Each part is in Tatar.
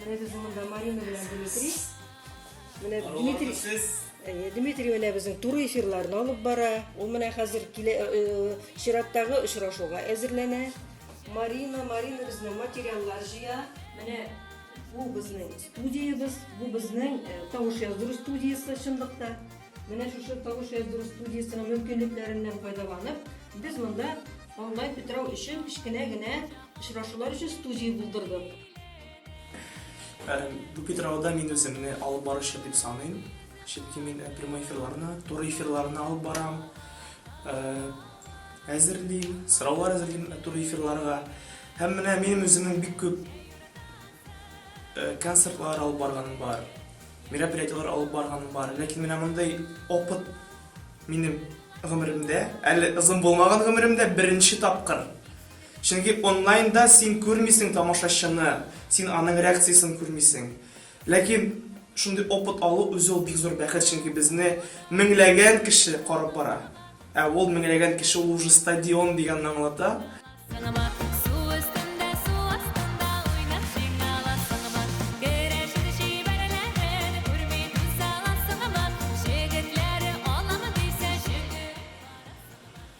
Менә без монда Марина белән Дмитрий. Менә Дмитрий. Әйе, Дмитрий менә безнең туры эфирларны алып бара. Ул менә хәзер килә э, э, чираттагы очрашуга әзерләнә. Марина, Марина безнең материаллар җыя. Менә бу безнең студиябез, бу безнең э, тавыш яздыру студиясе чынлыкта. Менә шушы тавыш яздыру студиясенең мөмкинлекләреннән файдаланып, без монда онлайн питрау өчен кечкенә генә очрашулар өчен студия булдырдык. Бу питрауда мин үземне алып баручы дип саныйм, чөнки мин прямой эфирларны, туры эфирларны алып барам, әзерлим, сораулар әзерлим туры эфирларга. Һәм менә минем үземнең бик күп концертлар алып барганым бар, мероприятиеләр алып барганым бар. Ләкин менә мондый опыт минем гомеремдә, әле озын булмаган гомеремдә беренче тапкыр. Чөнки онлайнда син күрмисең тамашачыны, син аның реакциясен күрмисең. Ләкин шундый опыт алу үзе ул бик зур бәхет, чөнки безне меңләгән кеше карап бара. Ә ул меңләгән кеше ул уже стадион дигәнне аңлата. Сыңыма, су өстендә, су астында уйнап җыйнала сыңыма, керәшен чибәрләрен күрми түзә ла сыңыма, җегетләре аламы дисә, җегет кара сыңыма.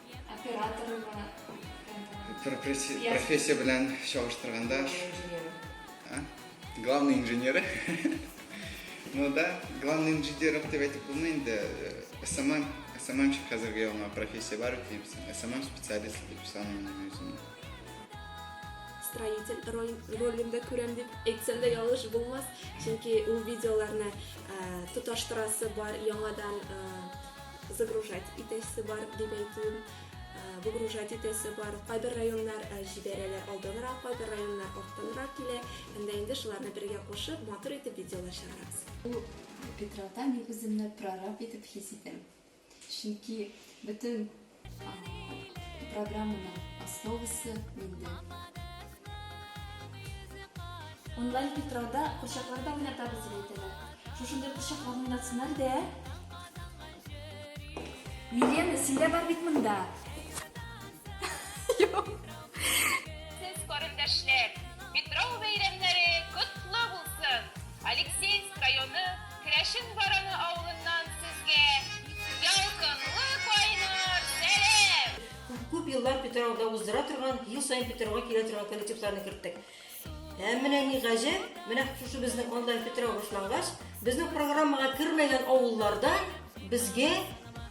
Операторга. Профессия белән чагыштырганда. Главный инженеры. Ну да, главный инженеров дип әйтеп булмый инде. СММ, СММщик хәзерге яңа профессия бар бит дип, СММ специалист дип саныймын үземне. Строитель ролендә күрәм дип әйтсәм дә ялгыш булмас, чөнки ул видеоларны тоташтырасы бар яңадан. Загружать итәсе бар дип әйтүем, выгружать итәсе бар. Кайбер районнар җибәрәләр алданрак, кайбер районнар арттанрак килә. Һәм дә инде шуларны бергә кушып, матур итеп видеолар чыгарабыз. Бу Питраута мин үземне прораб итеп хис итәм. Чөнки бөтен программаның основасы миндә. Онлайн питрода курчаклар да уйнатабыз дип әйтәләр. Шушындый курчаклар уйнатсыннар дә. Елена, син дә бар бит монда. Сез карындәшләр, Петров бәйрәмнәре котлы булсын! Алексеевск районы Керәшен Бараны авылыннан сезгә ялкынлы кайнар сәлам! Күп-күп еллар Питрауда уздыра торган, ел саен Питрауга килә торган коллективларны керттек. Ә менә ни гаҗәп, менә шушы безнең онлайн Питрау башлангач, безнең программага кермәгән авылларда безгә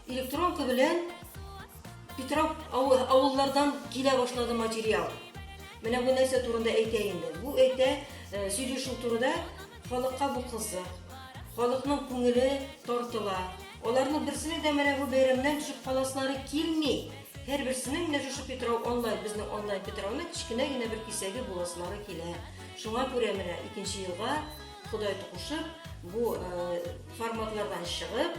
электронка белән Питрау авыллардан килә башлады материал. Менә бу нәрсә турында әйтә инде. Бу әйтә э, сөйләшү турында Халыкка бу кызык. Халыкның күңеле тартыла. Аларның берсенең дә менә бу бәйрәмнән төшеп каласылары килми. Һәрберсенең менә шушы Питрау онлайн, безнең онлайн Питрауның кечкенә генә бер кисәге буласылары килә. Шуңа күрә менә икенче елга Ходай токушып, бу форматлардан чыгып,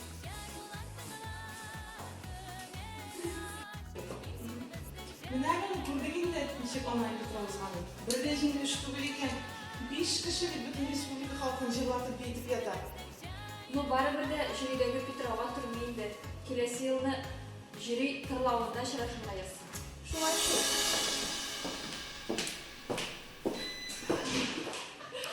Менә аны күрдек инде, ничек аңа итеп язган ул. Бер дә җиңел эш түгел икән. Биш кеше бит бөтен республика халкын җырлатып, биетеп ята. Ну, барыбер дә җөридәге питрауга төрми инде. Киләсе елны җөри тырлавында очрашырмыйыз. Шулай шул.